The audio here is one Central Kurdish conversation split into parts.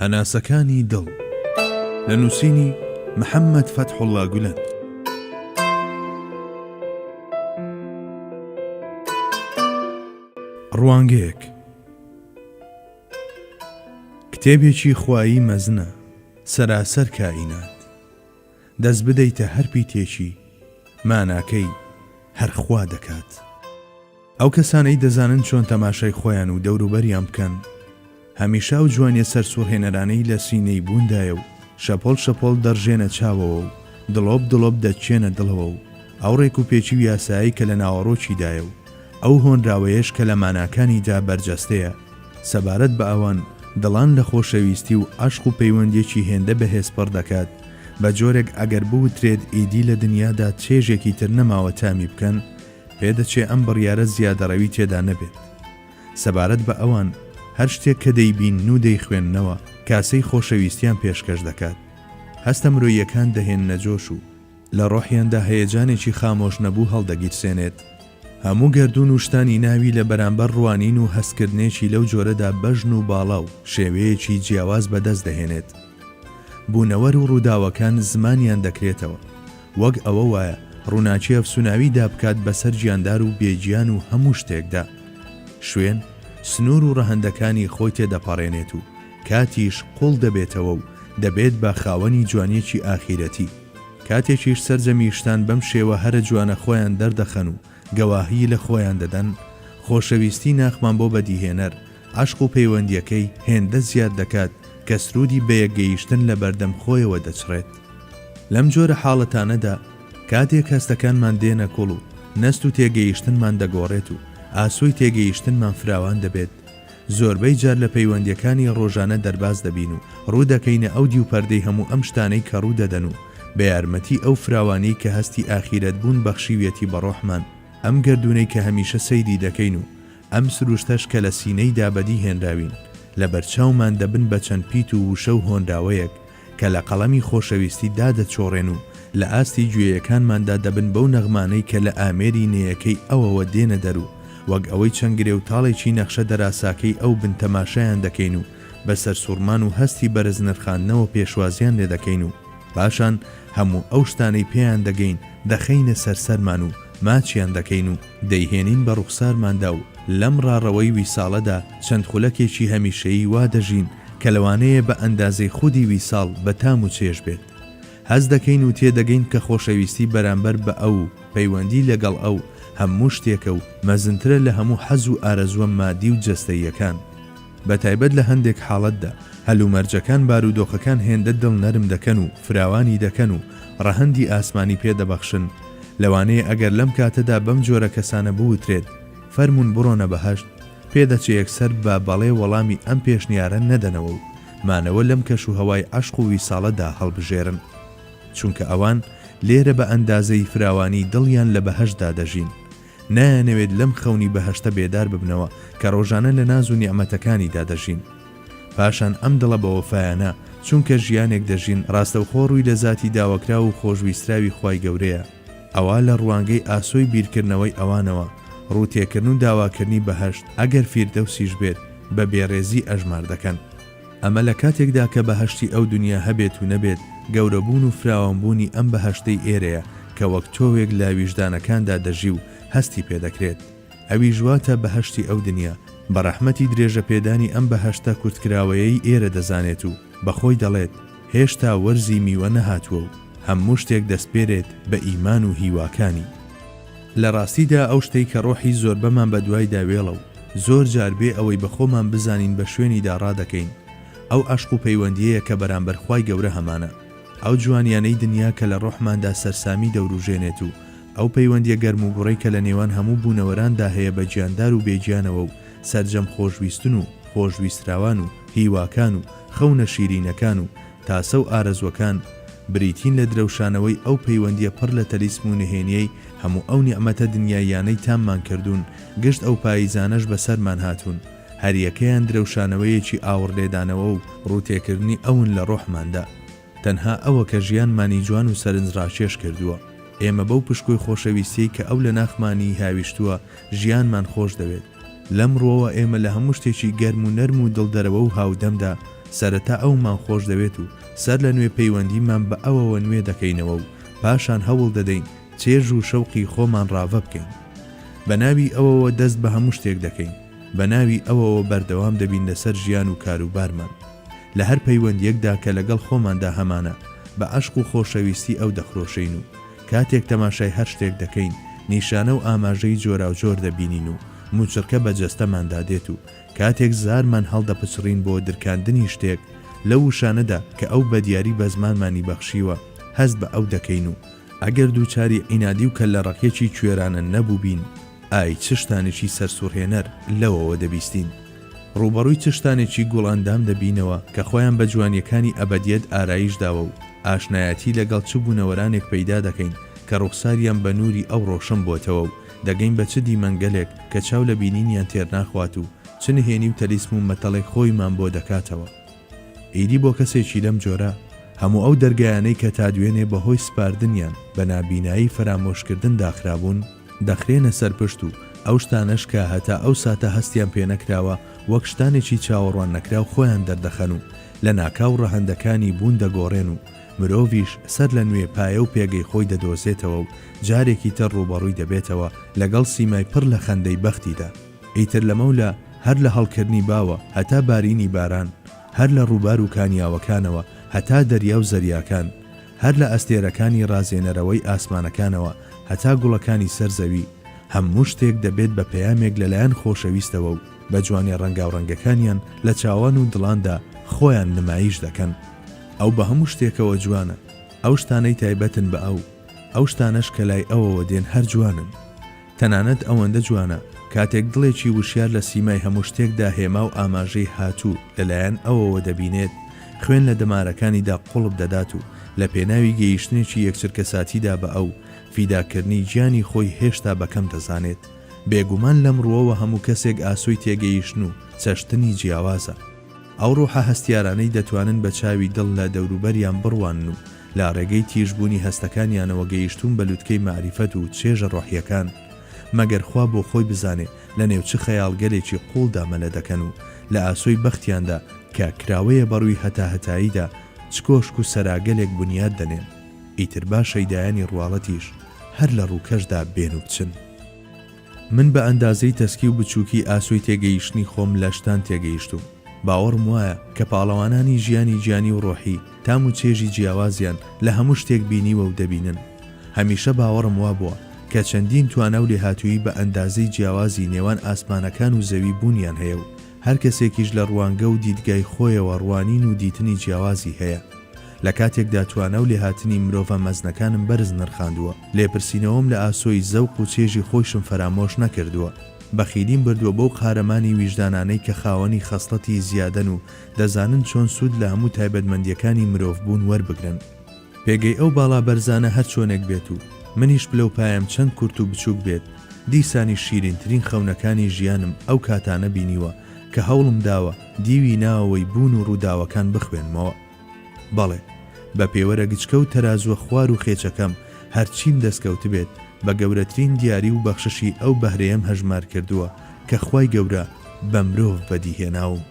هەناسەکانی دڵ، لە نووسینی، محەممەد فەتحوڵڵا گولەن. ڕوانگەیەک، کتێبێکی خوایی مەزنە، سەراسەر کائینات. دەست بدەیتە هەر پیتێکی، ماناکەی هەر خوا دەکات. ئەو کەسانەی دەزانن چۆن تەماشای خۆیان و دەوروبەریان بکەن، هەمیشە ئەو جوانیە سەرسوڕهێنەرانەی لە سینەی بووندایە و شەپۆڵ شەپۆڵ دەڕژێنە چاوەوە و دڵۆپ دڵۆپ دەتچێنە دڵەوە و ئەو ڕێک و پێچی و یاسایەی کە لە ناوەڕۆکیدایە و ئەو هۆنراوەیەش کە لە ماناکانیدا بەرجەستەیە سەبارەت بە ئەوان دڵان لە خۆشەویستی و عەشق و پەیوەندیەکی هێندە بەهێز پڕ دەکات بە جۆرێک ئەگەر بوترێت ئیدی لە دنیادا چێژێکی تر نەماوە تامی بکەن، پێدەچێ ئەم بڕیارە زیادەڕەوی تێدا نەبێت. سەبارەت بە ئەوان، هەر شتێک کە دەیبینن و دەیخوێننەوە، کاسەی خۆشەویستیان پێشکەش دەکات. هەستە مرۆییەکان دەهێننە جۆش و لە ڕۆحیاندا هەیەجانێکی خامۆشنەبوو هەڵدەگیرسێنێت. هەموو گەردوون و شتانی ناوی لە بەرامبەر ڕوانین و هەستکردنێکی لەو جۆرەدا بەژن و باڵا و شێوەیەکی جیاواز بەدەست دەهێنێت. بوونەوەر و ڕووداوەکان زمانیان دەکرێتەوە. وەک ئەوە وایە ڕووناکی ئەفسووناوی دا بکات بەسەر گیاندار و بێ گیان و هەموو شتێکدا. شوێن، سنوور و ڕەهەندەکانی خۆی تێ دەپەڕێنێت و کاتیش قووڵ دەبێتەوە و دەبێت بە خاوەنی جوانییەکی ئاخیرەتی. کاتێکیش سەرجەمی شتان بەم شێوە هەرە جوانە خۆیان دەردەخەن و گەواهیی لە خۆیان دەدەن، خۆشەویستیی ناخمان بۆ بەدیهێنەر، عەشق و پەیوەندییەکەی هێندە زیاد دەکات کە سروودی بەیەکگەیشتن لە بەردەم خۆیەوە دەچڕێت. لەم جۆرە حاڵەتانەدا کاتێک هەستەکانمان دێنە کوڵ و نەست و تێگەیشتنمان دەگۆڕێت و ئاسۆی تێگەیشتنمان فراوان دەبێت، زۆربەی جار لە پەیوەندیەکانی ڕۆژانە دەرباز دەبین و ڕوو دەکەینە ئەو دیو پەردەی هەموو ئەم شتانەی کە ڕوو دەدەن و بە یارمەتی ئەو فراوانیەی کە هەستی ئاخیرەت بوون بەخشیویەتی بە ڕۆحمان ئەم گەردوونەی کە هەمیشە سەیری دەکەین و ئەم سروشتەش کە لە سینەیدا بەدی هێنراوین لە بەرچاومان دەبن بە چەند پیت و ووشە و هۆنراوەیەک کە لە قەڵەمی خۆشەویستی دا دەچۆڕێن و لە ئاستی گوێیەکانماندا دەبن بەو نەغمانەی کە لە ئامێری نێیەکەی ئەوەوە دێنە دەر و وەک ئەوەی چەند گرێ و تاڵێکی نەخشە دەراساکەی ئەو بن تەماشایان دەکەین و بە سەرسوڕمان و هەستی بەرز نرخاندنەوە پێشوازیان لێ دەکەین و پاشان هەموو ئەو شتانەی پێیان دەگەین دەخەینە سەر سەرمان و ماچیان دەکەین و دەیهێنین بە ڕوخسارماندا و لەم ڕاڕەوەی ویساڵەدا چەند خولەکێکی هەمیشەیی وا دەژین کە لەوانەیە بە ئەندازەی خودی ویساڵ بە تام و چێژ بێت هەست دەکەین و تێدەگەین کە خۆشەویستی بەرامبەر بە ئەو و پەیوەندی لەگەڵ ئەو هەموو شتێکە و مەزنترە لە هەموو حەز و ئارەزووە مادی و جەستەییەکان بە تایبەت لە هەندێک حاڵەتدا هەلومەرجەکان بارودۆخەکان هێندە دڵ نەرم دەکەن و فراوانی دەکەن و ڕەهەندی ئاسمانی پێ دەبەخشن لەوانەیە ئەگەر لەم کاتەدا بەم جۆرە کەسانە بوترێت فەرموون بڕۆنە بەهەشت پێدەچێ یەکسەر بە بەڵێ وەڵامی ئەم پێشنیارە نەدەنەوە و مانەوە لەم کەشوهەوای عەشق و ویساڵەدا هەڵبژێرن. چونکە ئەوان لێرە بە ئەندازەی فراوانیی دڵیان لە بەهەشتدا دەژین. نایانەوێت لەم خەونی بەهەشتە بێدار ببنەوە کە ڕۆژانە لە ناز و نیعمەتەکانیدا دەژین. پاشان ئەم دڵە بەوەفایانە چونکە ژیانێک دەژین ڕاستەوخۆ ڕووی لە زاتی داوەکراو و خۆشویستراوی خوای گەورەیە. ئەوا لە ڕوانگەی ئاسۆی بیرکردنەوەی ئەوانەوە، ڕووتێکردن و داواکردنی بەهەشت، ئەگەر فیردەوسیش بێت، بە بێڕێزی ئەژمار دەکەن. ئەمە لە کاتێکدا کە بەهەشتی ئەو دونیا هەبێت و نەبێت، گەورەبوون و فراوانبوونی ئەم بەهەشتەی ئێرەیە کە وەک تۆوێک لە ویژدانەکاندا دەژی و هەستی پێ دەکرێت، ئەویش واتە بەهەشتی ئەو دونیا، بە ڕەحمەتی درێژەپێدانی ئەم بەهەشتە کورتکراوەیەی ئێرە دەزانێت و بە خۆی دەڵێت، هێشتا وەرزی میوە نەهاتووە و هەموو شتێک دەسپێرێت بە ئیمان و هیواکانی. لە ڕاستیدا ئەو شتەی کە ڕۆحی زۆربەمان بە دوایدا وێڵە و زۆر جار بێ ئەوەی بە خۆمان بزانین بە شوێنیدا ڕادەکەین، ئەو عەشق و پەیوەندیەیە کە بەرامبەر خوای گەورە هەمانە. ئەو جوانیانەی دنیا کە لە ڕۆحماندا سەرسامی دەوروژێنێت و ئەو پەیوەندیە گەرموگوڕەی کە لە نێوان هەموو بوونەوەراندا هەیە بە گیاندار و بێگیانەوە و سەرجەم خۆشویستن و خۆشویستراوان و هیواکان و خەونە شیرینەکان و تاسە و ئارەزووەکان بریتین لە درەوشانەوەی ئەو پەیوەندییە پڕ لە تەلیسم و نهێنییەی هەموو ئەو نیعمەتە دنیاییانەی تاممان کردوون، گشت ئەو پاییزانەش بەسەرمان هاتوون، هەریەکەیان درەوشانەوەیەکی ئاوڕلێدانەوە و ڕووتێکردنی ئەون لە ڕۆحماندا. تەنها ئەوە کە ژیانمانی جوان و سەرنجڕاکێش کردووە. ئێمە بەو پشکۆی خۆشەویستیەی کە ئەو لە ناخمانی هاویشتووە ژیانمان خۆش دەوێت. لەم ڕووەوە ئێمە لە هەموو شتێکی گەرم و نەرم و دڵدەرەوە و هاودەمدا سەرەتا ئەومان خۆش دەوێت و سەر لە نوێ پەیوەندیمان بە ئەوەوە نوێ دەکەینەوە و پاشان هەوڵ دەدەین چێژ و شەوقی خۆمان ڕاڤە بکەین. بە ناوی ئەوەوە دەست بە هەموو شتێک دەکەین. بە ناوی ئەوەوە بەردەوام دەبین لەسەر ژیان و کاروبارمان لە هەر پەیوەندیەکدا کە لەگەڵ خۆماندا هەمانە بە عەشق و خۆشەویستی ئەو دەخرۆشێین و کاتێک تەماشای هەر شتێک دەکەین نیشانە و ئاماژەی جۆراوجۆر دەبینین و موچڕکە بە جەستەماندا دێت و کاتێک زارمان هەڵدەپچڕین بۆ درکاندنی شتێک لەو وشانەدا کە ئەو بەدیاری بە زمانمانی بەخشیوە هەست بە ئەو دەکەین و ئەگەر دووچاری عینادی و کەللە ڕەقیەکی کوێرانە نەبووبین، ئای چ شتانێکی سەرسوڕهێنەر لەوەوە دەبیستین! ڕووبەڕووی چ شتانێکی گوڵئەندام دەبینەوە کە خۆیان بە جوانییەکانی ئەبەدیەت ئارایش داوە و ئاشنایەتی لەگەڵ چ بوونەوەرانێک پەیدا دەکەین کە ڕوخساریان بە نووری ئەو ڕۆشن بۆتەوە و دەگەین بە چ دیمەنگەلێک کە چاو لە بینینیان تێرناخوات و چ نهێنی و تەلیسم و مەتەڵێک خۆیمان بۆ دەکاتەوە! ئیدی بۆ کەسێکی لەم جۆرە، هەموو ئەو دەرگایانەی کە تا دوێنێ بە هۆی سپاردنیان بە نابینایی فەرامۆشکردن داخرابوون، دەخرێنە سەر پشت و ئەو شتانەش کە هەتا ئەو ساتە هەستیان پێ نەکراوە وەک شتانێکی چاوەڕوان نەکراو خۆیان دەردەخەن و لە ناکاو ڕەهەندەکانی بوون دەگۆڕێن و مرۆڤیش سەر لە نوێ پایە و پێگەی خۆی دەدۆزێتەوە و جارێکی تر ڕووبەڕووی دەبێتەوە لەگەڵ سیمای پڕ لە خەندەی بەختیدا. ئیتر لەمەولا هەر لە هەڵکردنی باوە هەتا بارینی باران، هەر لە ڕووبار و کانیاوەکانەوە هەتا دەریا و زەریاکان، هەر لە ئەستێرەکانی ڕازێنەرەوەی ئاسمانەکانەوە هەتا گوڵەکانی سەر زەوی، هەموو شتێک دەبێت بە پەیامێک لەلایەن خۆشەویستەوە و بە جوانیە ڕەنگاوڕەنگەکانیان لە چاوان و دڵاندا خۆیان نمایش دەکەن. ئەو بە هەموو شتێکەوە جوانە، ئەو شتانەی تایبەتن بە ئەو، ئەو شتانەش کە لای ئەوەوە دێن هەر جوانن. تەنانەت ئەوەندە جوانە کاتێک دڵێکی وشیار لە سیمای هەموو شتێکدا هێما و ئاماژەی هاتوو لەلایەن ئەوەوە دەبینێت، خوێن لە دەمارەکانیدا قوڵپ دەدات و لە پێناوی گەیشتنێکی یەکچرکەساتیدا بە ئەو، فیداکردنی گیانی خۆی هێشتا بە کەم دەزانێت. بێگومان لەم ڕووەوە هەموو کەسێک ئاسۆی تێگەیشتن و چەشتنی جیاوازە. ئەو ڕوحە هەستیارانەی دەتوانن بە چاوی دڵ لە دەوروبەریان بڕوانن و لە ڕێگەی تیژبوونی هەستەکانیانەوە گەیشتوون بە لوتکەی مەعریفەت و چێژە ڕۆحییەکان، مەگەر خوا بۆ خۆی بزانێ لە نێو چ خەیاڵگەلێکی قووڵدا مەلە دەکەن و لە ئاسۆی بەختیاندا کە کراوەیە بە ڕووی هەتاهەتاییدا چ کۆشک و سەراگەلێک بنیات دەنێن، ئیتر با شەیدایانی ڕواڵەتیش هەر لە ڕووکەشدا بێن و بچن. من بە ئەندازەی تەسکی و بچووکی ئاسۆی تێگەیشتنی خۆم لە شتان تێگەیشتووم. باوەڕم وایە کە پاڵەوانانی ژیانی گیانی و ڕۆحی، تام و چێژی جیاوازیان لە هەموو شتێک بینیوە و دەبینن. هەمیشە باوەڕم وابووە کە چەندین توانا و لێهاتوویی بە ئەندازەی جیاوازی نێوان ئاسمانەکان و زەوی بوونیان هەیە و هەر کەسێکیش لە ڕوانگە و دیدگای خۆیەوە ڕوانین و دیتنی جیاوازی هەیە لە کاتێکدا توانا و لێهاتنی مرۆڤە مەزنەکانم بەرز نرخاندووە. لێپرسینەوەم لە ئاسۆی زەوق و چێژی خۆیشم فەرامۆش نەکردووە، بەخیلیم بردووە بەو قارەمانی ویژدانانەی کە خاوەنی خەسڵەتی زیادەن و دەزانن چۆن سوود لە هەموو تایبەتمەندییەکانی مرۆڤبوون وەربگرن. پێگەی ئەو باڵا بەرزانە هەر چۆنێک بێت و منیش پلەوپایەم چەند کورت و بچووک بێت، دیسانیش شیرینترین خەونەکانی ژیانم ئەو کاتانە بینیوە کە هەوڵم داوە دیوی ناوەوەی بوون و ڕووداوەکان بخوێنمەوە. بەڵێ، بە پێوەرە گچکە و تەرازووە خوار و خێچەکەم، هەرچیم دەستکەوتبێت، بە گەورەترین دیاری و بەخششی ئەو بەهرەیەم هەژمار کردووە، کە خوای گەورە بە مرۆڤ بەدی هێناوم.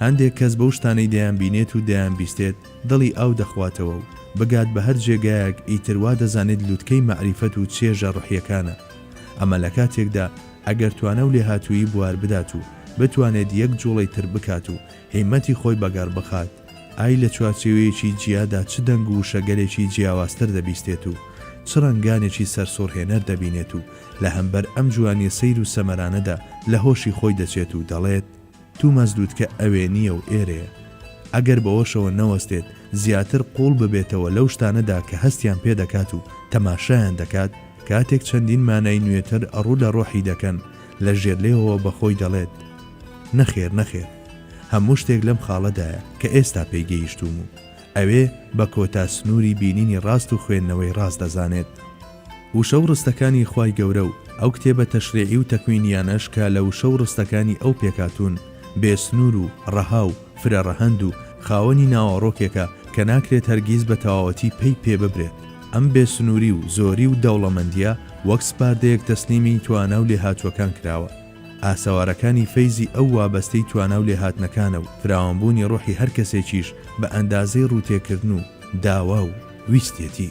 هەندێک کەس بەو شتانەی دەیانبینێت و دەیانبیستێت، دڵی ئاو دەخواتەوە و بگات بە هەر جێگایەک، ئیتر وا دەزانێت لوتکەی مەعریفەت و چێژە ڕۆحییەکانە. ئەمە لە کاتێکدا، ئەگەر توانا و لێهاتوویی بوار بدات و بتوانێت یەک جووڵەی تر بکات و هیمەتی خۆی بەگەڕ بخات، ئای لە چوارچێوەیەکی جیادا چ دەنگ و وشەگەلێکی جیاوازتر دەبیستێت و چ ڕەنگانێکی سەرسوڕهێنەر دەبینێت و لە هەمبەر ئەم جوانیە سەیر و سەمەرانەدا لە هۆشی خۆی دەچێت و دەڵێت، توماس لوتکە ئەوێ نیە و ئێرەیە. ئەگەر بەوەشەوە نەوەستێت زیاتر قووڵ ببێتەوە لەو شتانەدا کە هەستیان پێ دەکات و تەماشایان دەکات، کاتێک چەندین مانای نوێتر ڕوو لە ڕۆحی دەکەن، لە ژێرلێوەوە بە خۆی دەڵێت، نەخێر نەخێر هەموو شتێک لەم خاڵەدایە کە ئێستا پێی گەیشتووم و ئەوێ بە کۆتا سنووری بینینی ڕاست و خوێندنەوەی ڕاست دەزانێت وشە و ڕستەکانی خوای گەورە و ئەو کتێبە تەشریعی و تەکوینییانەش کە لە وشە و ڕستەکانی ئەو پێکهاتوون بێ سنوور و ڕەها و فرە ڕەهەند و خاوەنی ناوەڕۆکێکە کە ناکرێت هەرگیز بە تەواوەتی پەی پێ ببرێت ئەم بێ سنووری و زۆری و دەوڵەمەندییە وەک سپاردەیەک تەسلیمی توانا و لێهاتووەکان کراوە. ئاسەوارەکانی فەیزی ئەو وابەستەی توانا و لێهاتنەکانە و فراوانبوونی ڕۆحی هەر کەسێکیش بە ئەندازەی ڕووتێکردن و داوا و ویستێتی.